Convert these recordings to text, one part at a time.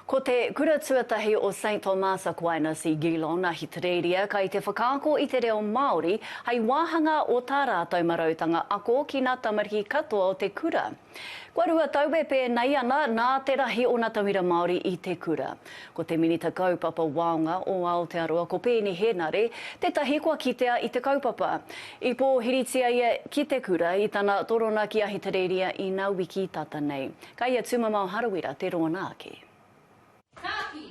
Ko te kura tuatahi o Saint Thomas Aquinas i Geelong, Ahitereiria, kai te whakaako i te reo Māori hai wāhanga o tā rātou marautanga ako ki nā tamariki katoa o te kura. Kua rua tau e pēnei ana nā te rahi o nā tauira Māori i te kura. Ko te Minita Kaupapa Waonga o Aotearoa ko Peeni Henare tētahi kua kitea i te kaupapa. I pōhiritia ia ki te kura i tana torona ki Ahitereiria ina wiki tata nei. Kai a Tumamao Harawira te rōna ake. Tāki!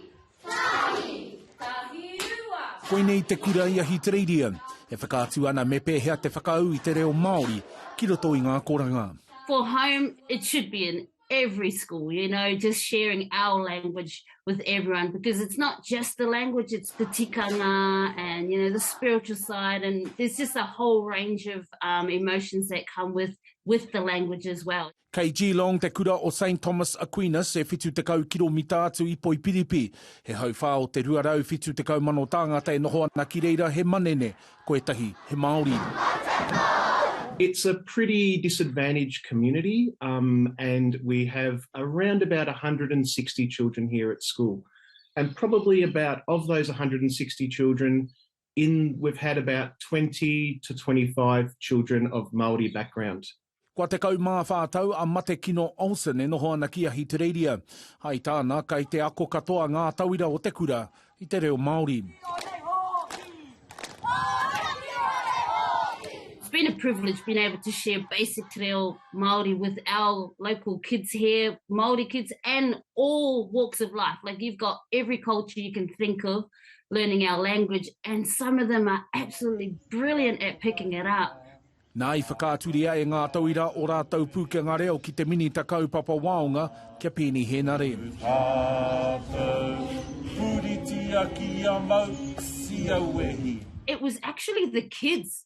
Tāki! Tāki rua! Koinei te kura i Ahitereiria e whakaatu ana me pēhea te whakaū i te reo Māori ki roto i ngā koranga. For home it should be in every school you know just sharing our language with everyone because it's not just the language it's the tikanga and you know the spiritual side and there's just a whole range of emotions that come with with the language as well. Kei Geelong te kura o Saint Thomas Aquinas e 70 kiromita atu i Poipiripi. He hauwhā o te 270,000 tāngata e noho ana ki reira he manene, ko etahi he Māori. It's a pretty disadvantaged community um and we have around about 160 children here at school and probably about of those 160 children In we've had about twenty to twenty five children of Māori background. Kua tekau mā whā tau a Matekino Olsen e noho ana ki Ahitereiria. Hai tāna, kei te ako katoa ngā tauira o te kura i te reo Māori. It's been a privilege being able to share basic te reo Māori with our local kids here, Māori kids and all walks of life. Like you've got every culture you can think of learning our language and some of them are absolutely brilliant at picking it up. Nā i whakaaturia e Ngā Tauira o rātou pūkenga reo ki te Minita Kaupapa Waonga kia Peeni Henare. It was actually the kids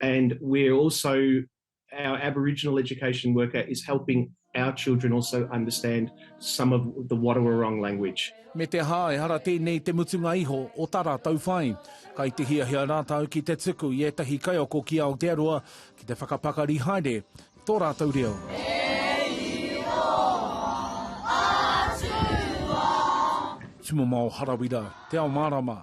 And we're also, our Aboriginal education worker is helping our children also understand some of the Watawurrung language. Me te aha, ehara tēnei te mutunga iho o tā rātou whai. Kai te hiahia rātou ki te tuku i ētahi kaiako ki Aotearoa ki te whakapakari haere tō rātou reo. Tumamao Harawira, Te Ao Mārama.